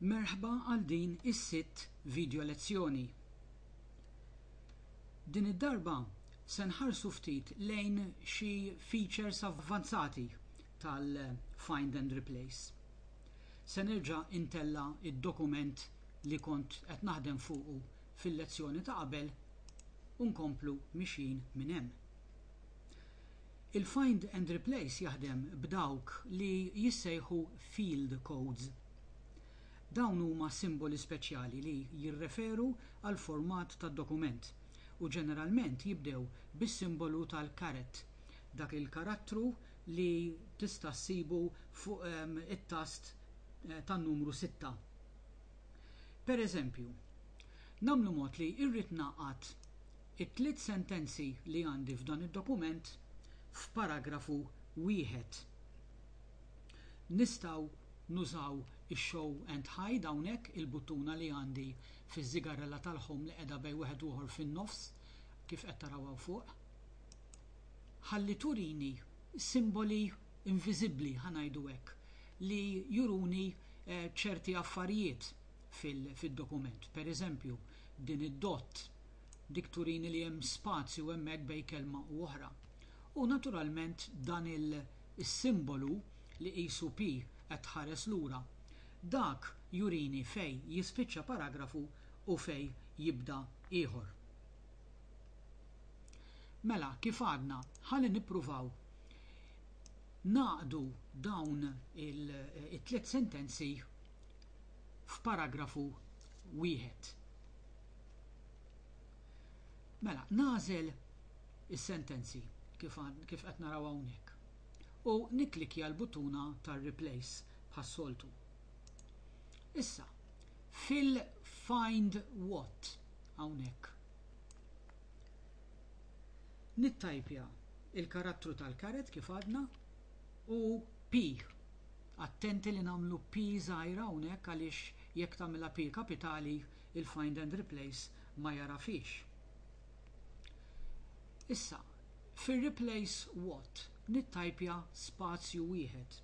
Merħba għal din is-sitt video lezzjoni. Din id-darba se nħarsu ftit lejn xi features avvanzati tal-Find and Replace. Se nerġa' intella' id-dokument li kont qed naħdem fuqu fil-lezzjoni ta' qabel u nkomplu mixjin minn hemm. Il-find and replace jaħdem b'dawk li jissejħu field codes. Dawn huma simboli speċjali li jirreferu għall-format tad-dokument u ġeneralment jibdew bis-simbolu tal-caret, dak il-karattru li tista' ssibu fuq it-tast tan-numru sitta. Pereżempju, nagħmlu mod li irrid ngħaqqad It-tliet sentenzi li għandi f'dan id-dokument f'paragrafu wieħed. Nistgħu nużaw ix-show and hide hawnhekk, il-buttuna li għandi fiż-żigarrella tal-home li qiegħda bejn wieħed u ieħor fin-nofs, kif qed taraw hawn fuq, ħalli turini simboli inviżibbli, ħa ngħidu hekk, li juruni ċerti affarijiet fid-dokument. Pereżempju, din id-dott. Dik turini li hemm spazju hemmhekk bejn kelma u oħra. U naturalment dan is-simbolu li qisu P qed tħares lura, dak jurini fejn jispiċċa paragrafu u fejn jibda ieħor. Mela, kif għadna, ħalli nippruvaw ngħaqdu dawn it-tliet sentenzi f'paragrafu wieħed. Mela, nagħżel is-sentenzi kif kif qed naraw hawnhekk u nikklikja l-buttuna tar-Replace bħas-soltu. Issa, fil-Find What hawnhekk, nittajpja l-karattru tal-caret kif għadna u P. Attenti li nagħmlu P żgħira hawnhekk għaliex jekk tagħmilha P kapitali il-find and replace ma jagħrafhiex. Issa, fir-replace what nittajpja spazju wieħed.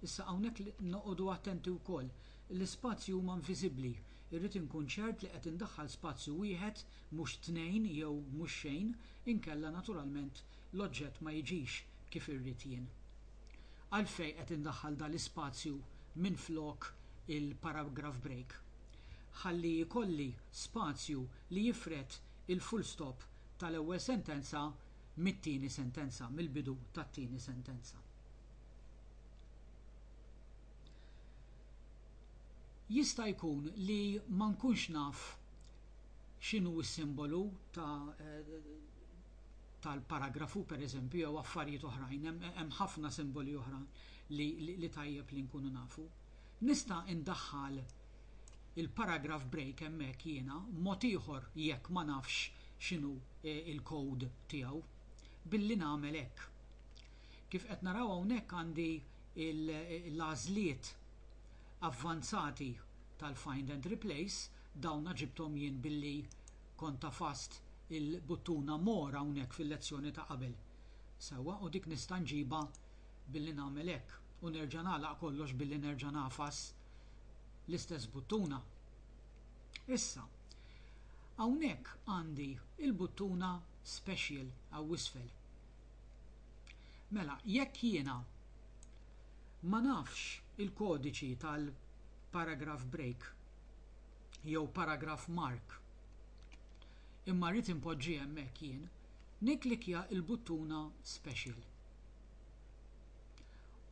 Issa hawnhekk noqogħdu attenti wkoll, l-ispazji huma inviżibbli, irrid inkun ċert li qed indaħħal spazju wieħed mhux tnejn jew mhux xejn inkella naturalment l-oġġett ma jiġix kif irrid jien. Għalfejn qed indaħħal dan l-ispazju minflok il-paragraph break? ħalli jkolli spazju li jifred il-full stop tal-ewwel sentenza mit-tieni sentenza, mill-bidu tat-tieni sentenza. Jista' jkun li ma nkunx naf x'inhu s-simbolu ta' tal-paragrafu, pereżempju, jew affarijiet oħrajn, hemm ħafna simboli oħra li tajjeb li nkunu nafu. Nista' indaħħal il-paragraph break hemmhekk jiena mod ieħor jekk ma nafx x'inhu l-code tiegħu billi nagħmel hekk. Kif qed naraw hawnhekk għandi l-għażliet avvanzati tal-find and replace, dawna ġibthom jien billi kont għafast il-buttuna more hawnhekk fil-lezzjoni ta' qabel. Sewwa, u dik nista' nġibha billi nagħmel hekk u nerġa' nagħlaq kollox billi nerġa' nagħfas l-istess buttuna. Issa, hawnhekk għandi l-buttuna Special hawn'isfel. Mela, jekk jiena ma nafx il-kodiċi tal-paragraph break jew paragraph mark imma rrid inpoġġih hemmhekk jien, nikklikkja l-buttuna Special.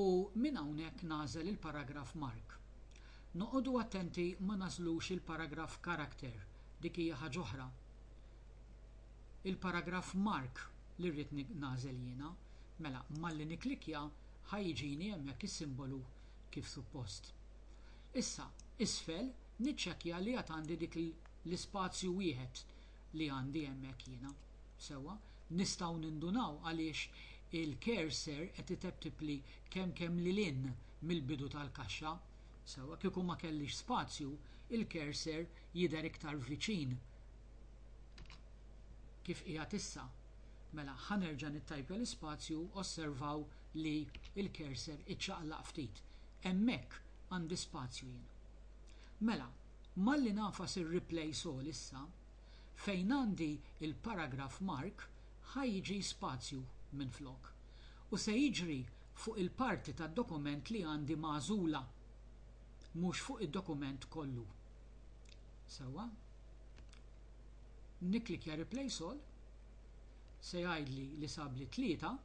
U minn hawnhekk nagħżel il-paragraf mark. Noqogħdu attenti ma nagħżlux il-paragraf character, dik hija ħaġa oħra. Il-paragraf mark li rrid nagħżel jiena, mela malli nikklikkja ħa jiġini hemmhekk is-simbolu kif suppost. Issa, isfel niċċekkja li għad għandi dik l-ispazju wieħed li għandi hemmhekk jiena. Sewwa, nistgħu nindunaw għaliex il-cursor qed iteptipli kemkemm lil hinn mill-bidu tal-kaxxa. Sewwa, kieku ma kellix spazju, il-cursor jidher iktar viċin kif qiegħed issa. Mela, ħa nerġa' nittajpja l-ispazju, osservaw li l-cursor iċċaqlaq ftit. Hemmhekk għandi spazju jien. Mela, Malli nagħfas ir-replace all issa, fejn għandi l-paragraf mark ħa jiġi spazju minflok. U se jiġri fuq il-parti tad-dokument li għandi magħżula, mhux fuq id-dokument kollu. Sewwa. Nikklikkja replace all, se jgħidli li sab li tlieta.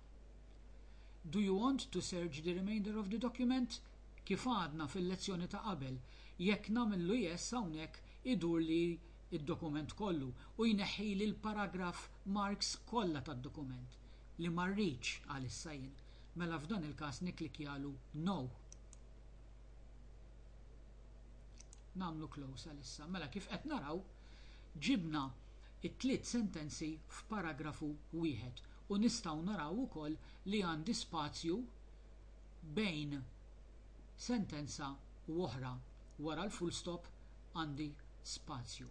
Do you want to search the remainder of the document? Kif għadna fil-lezzjoni ta' qabel, jekk nagħmillu yes hawnhekk idurli d-dokument kollu u jneħħili l-paragraf marks kollha tad-dokument li ma rridx għalissa jien, mela f'dan il-każ nikklikkjalu no. Nagħmlu close għalissa. Mela kif qed naraw, ġibna t-tliet sentenzi f'paragrafu wieħed u nistgħu naraw ukoll li għandi spazju bejn sentenza u oħra, wara l-fullstop għandi spazju.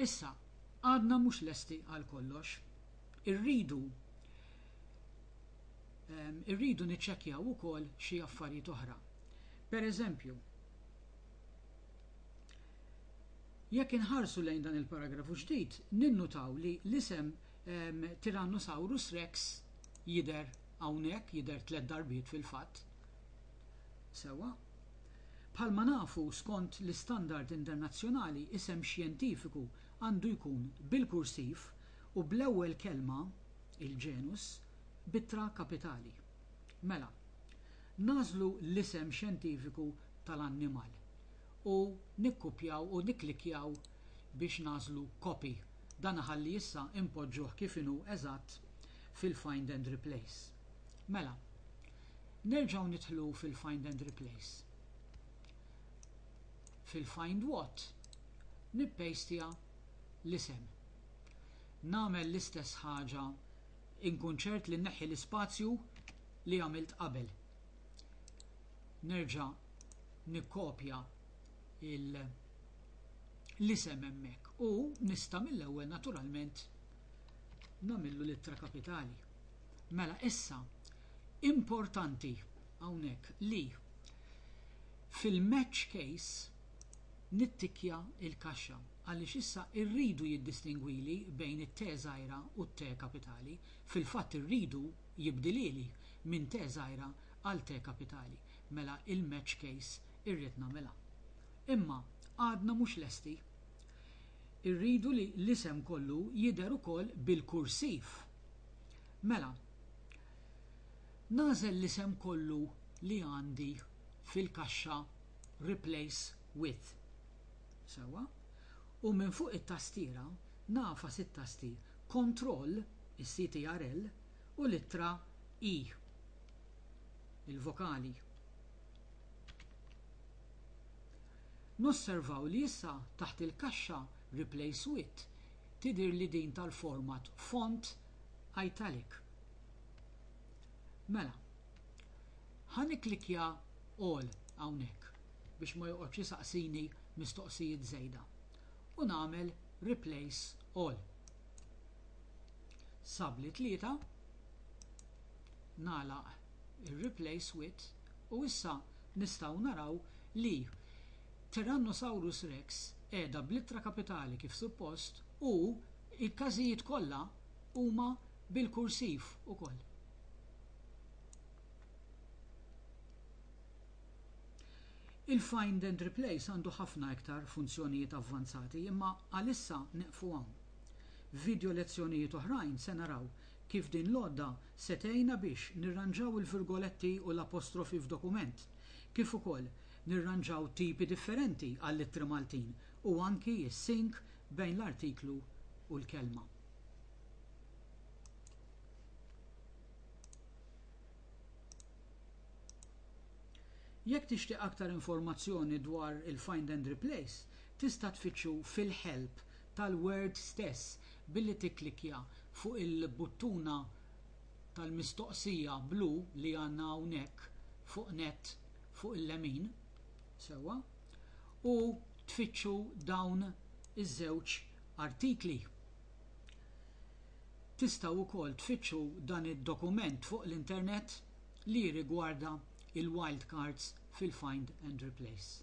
Issa, għadna mhux lesti għal kollox. Irridu ehm, irridu niċċekkjaw ukoll xi affarijiet oħra. Per eżempju, Jekk inħarsu lejn dan il-paragrafu ġdid, ninnutaw li l-isem Tyrannosaurus rex jidher hawnhekk, jidher tliet darbiet fil-fatt. Sewwa. Bħalma nafu, skont l-istandard internazzjonali, isem xjentifiku għandu jkun bil-kursiv u bl-ewwel kelma, il-ġenus, b'ittra kapitali. Mela, nagħżlu l-isem xjentifiku tal-annimal, u nikkupjaw u nikklikkjaw biex nagħżlu copy. Dan iħalli issa inpoġġuh kif inhu eżatt fil-find and replace. Mela, nerġgħu nidħlu fil-find and replace. Fil-find what, nippejstja l-isem. Nagħmel l-istess ħaġa inkun ċert li nneħħi l-ispazju li għamilt qabel. Nerġa' nikkopja l-isem hemmhekk u nista' mill-ewwel naturalment nagħmillu l-ittra kapitali. Mela issa importanti hawnhekk li fil-match case nittikkja l-kaxxa għaliex issa rridu jiddistingwili bejn it-T żgħira u t-T kapitali, fil-fatt irridu jibdilhieli minn T żgħira għal T kapitali. mela il-match case irrid nagħmilha. Imma għadna mhux lesti. Irridu li l-isem kollu jidher ukoll bil-kursiv. Mela, nagħżel l-isem kollu li għandi fil-kaxxa Replace with. Sewwa. U minn fuq it-tastiera nagħfas it-tasti Kontroll, is-CTRL, u l-ittra E. il-vokali. Nosservaw li issa taħt il-kaxxa Replace with tidher li din tal-format font italic. Mela, ħa nikklikkja All hawnhekk biex ma joqgħodx isaqsini mistoqsijiet żejda u nagħmel Replace All. Sab li tlieta. nagħlaq ir-replace with u issa nistgħu naraw li Tyrannosaurus Rex qiegħda bl-ittra kapitali kif suppost u l-każijiet kollha huma bil-kursiv ukoll. Il-find and replace għandu ħafna iktar funzjonijiet avvanzati imma għalissa nieqfu hawn. F'vidjolezzjonijiet oħrajn se naraw Kif din l-għodda se tgħinna biex nirranġaw il-virgoletti u l-apostrofi f'dokument, kif ukoll nirranġaw tipi differenti għall-ittri Maltin u anki s-sync bejn l-artiklu u l-kelma. Jekk tixtieq aktar informazzjoni dwar il-Find and Replace, tista' tfittxu fil-Help tal-Word stess Billi tikklikkja fuq il-buttuna tal-mistoqsija blu li għandna hawnhekk fuq nett fuq il-lemin, sewwa, u tfittxu dawn iż-żewġ artikli. Tistgħu wkoll tfittxu dan id-dokument fuq l-internet li jirrigwarda l-wildcards fil-find and replace.